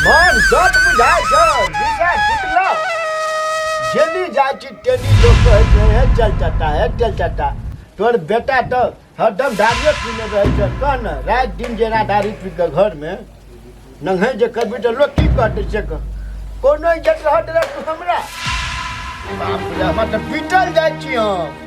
मन सब बुझाय छ विषय फुटलो जेनी जाय छी तेनी लोग कहै छै हे चल चटा हे चल चटा तोर बेटा तो हरदम दारू पीने रहै छै कह न रात दिन जेना दारू पी के घर में नंगे जे कभी तो लोग की कहते से कह कोनो इज्जत रहत रह तू हमरा बाप रे हमरा तो पीटल जाय छी हम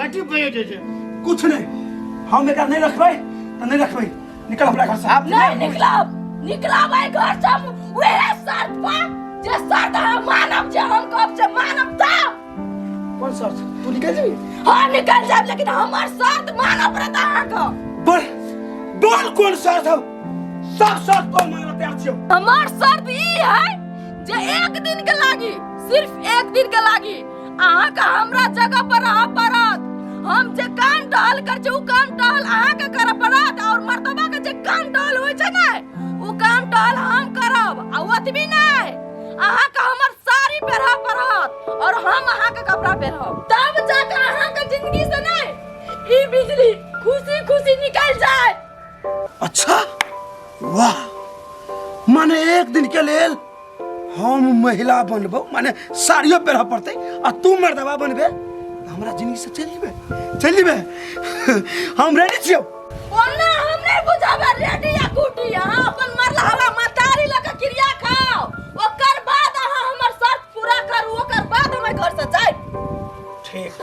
कथी बजे जे छै कुछ नहीं हम एकरा नहीं रखबै त नहीं रखबै निकल हमरा घर से आप नहीं निकलब निकलब आई घर से हम वहे शर्त पर जे शर्त हम मानब जे हम कब से मानब त कोन शर्त तू निकल जेबी हां निकल जाब लेकिन हमर शर्त मानब पड़त अहाँ के बोल बोल कोन शर्त हम सब शर्त पर मानब तैयार छियो हमर शर्त ई है जे एक दिन के लागी सिर्फ एक दिन के लागी अहाँके हमरा जगह पर रह पड़त हम जे काम टहल कर छी उ काम टहल अहाँके करऽ पड़त और मर्दबा के जे काम टहल होइ छै ने उ काम टहल हम करब आ ओतबी नहि अहाँके हमर साड़ी पहिरऽ पड़त और हम अहाँके कपड़ा पहिरब तब जाके अहाँके जिंदगी से नहि ई बिजली खुशी खुशी निकल जाए अच्छा वाह माने एक दिन के लेल हम महिला बनबो माने साड़ियो पहनऽ पड़तै आ तू मर्दबा बनबे तऽ हमरा जिंदगी से चलि जेबै चलि जेबै हम रेडी छियौ ओना हम नहीं बुझाबे रेडी या गुटी अहाँ अपन मरला हवा मतारी लऽ के क्रिया खाओ ओकर बाद अहाँ हमर शर्त पूरा करू ओकर बाद हम एहि घर से जायब ठीक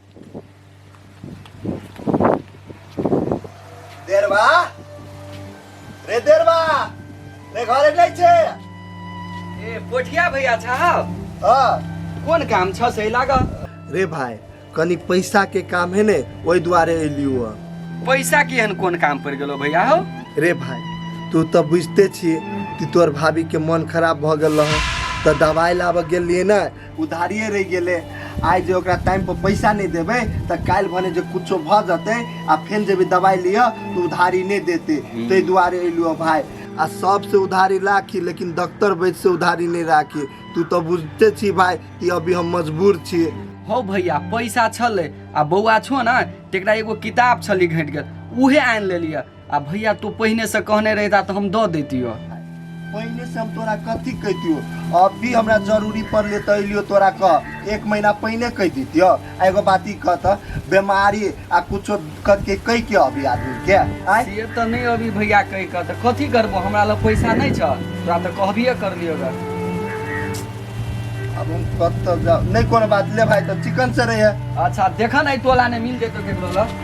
देरवा रे देरवा रे घरे नहीं छे ए पोठिया भैया साहब हाँ कोन काम छ से लाग रे भाई कनी पैसा के काम है ने वही द्वारे अलियो पैसा की हन कोन काम पड़ गेलो भैया हो रे भाई तू तो बुझते छी कि तोर भाभी के मन खराब भ गेल रह तो दवाई लाबऽ गेलिए ना उधारिये रहि गेलै आइ जे ओकरा टाइम पर पैसा नहि देबै तऽ काल्हि भने जे कुछो भऽ जेतै आ फेर जेबै दवाइ लिअ तऽ उधारी नहि देतै ताहि दुआरे एलहुँ भाय आ सबसे उधारी राखी लेकिन डॉक्टर वैद्य से उधारी नहीं राखी तू तो बुझते छी भाई कि अभी हम मजबूर छी हो भैया पैसा छलै आ बौआ छो ने तेकरा एगो किताब छली घटि गेल उहे आनि लेलियै आ भैया तू पहिने से कहने रहता तो हम दो देती हो पहिने से हम तोरा कथी कहतियो अब भी हमरा जरूरी पड़ले तो अलियो तोरा कह एक महीना पहिने कह दितियो आ एगो बात ई कह त बीमारी आ कुछो करके कह के अभी आदमी के आय ये तो नहीं अभी भैया कह कह तो कथी करबो हमरा लग पैसा नहीं छ तोरा तो कहबिए कर लियो गे अब हम कत जाओ नहीं कोनो बात ले भाई तो चिकन से रहे अच्छा देखा नहीं तोला ने मिल जेतो केकरो लग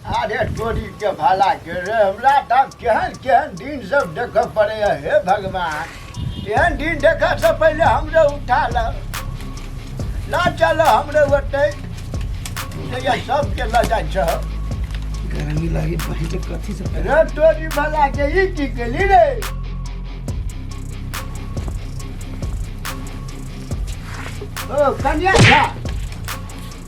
अरे तोरी के भाला के रे हमरा तब केहन केहन दिन सब देख पड़े है हे भगवान एहन दिन देख से पहले हमरे उठा ल ला चल हमरे ओते जया सब के ल जाय छ गर्मी लागे पहले कथी से रे तोरी भाला के ई की केली रे ओ कन्या झा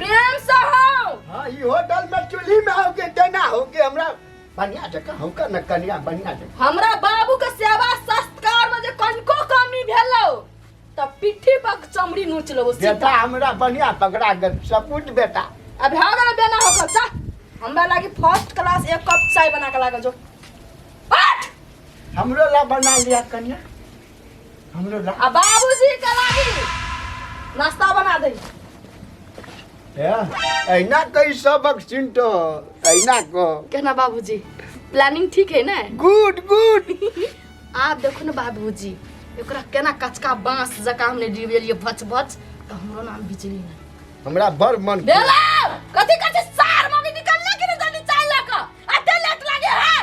प्रेम से हो हाँ ई होटल में चूल्ही में होके देना होके हमरा बढ़िया जगह हमका न कनिया बढ़िया जगह हमरा बाबू के सेवा सत्कार में जे कनको कमी भेलो त पिट्ठी पर चमड़ी नोच लेबो बेटा सीधा हमरा बढ़िया पकड़ा गल सपूत बेटा अब हो गेल बेना हो गेल जा हमरा लागी फर्स्ट क्लास एक कप चाय बना के लागे जो हट हमरो ला बना लिया कनिया हमरो ला आ बाबूजी के लागी नाश्ता बना दे ऐना कई सबक चिंटो ऐना को कहना बाबूजी प्लानिंग ठीक है ना गुड गुड आप देखो ना बाबूजी एकरा केना कचका बांस जका हमने डिबेलिए भच भच तो हमरो नाम बिजली ना हमरा बड़ मन देला कथी कथी सार मम्मी निकल लगे ना जल्दी चाय लगा आ तेल लग लगे है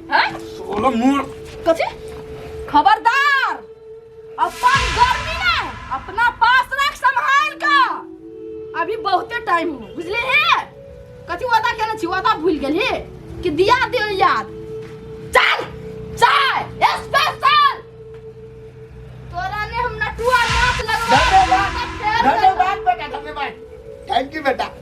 हैं सोलो मूड कथी खबरदार अपन गर्मी ना अपना पास रख संभाल का अभी बहुते टाइम हो बुझले हे कथी वादा केने छी वादा भूल गेल हे कि दिया दियो याद चल चाय स्पेशल तोरा ने हम नटुआ नाच लगवा धन्यवाद धन्यवाद बेटा धन्यवाद थैंक यू बेटा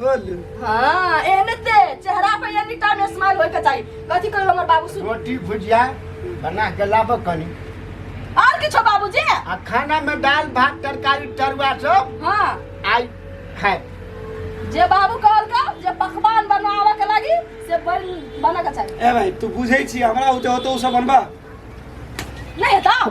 बोलू हाँ एहने ते चेहरा पे एनी टाइम स्माइल होय के चाहिए कथी कहियो हमर बाबू सुन रोटी भुजिया बना के लाबऽ कनी और किछो बाबूजी आ खाना में दाल भात तरकारी तरुआ सब हाँ आई खाए जे बाबू कहल का जे पकवान बनावे के लागी से बन बना के चाहिए ए भाई तू बुझे छी हमरा होते होते उ सब बनबा नहीं दाओ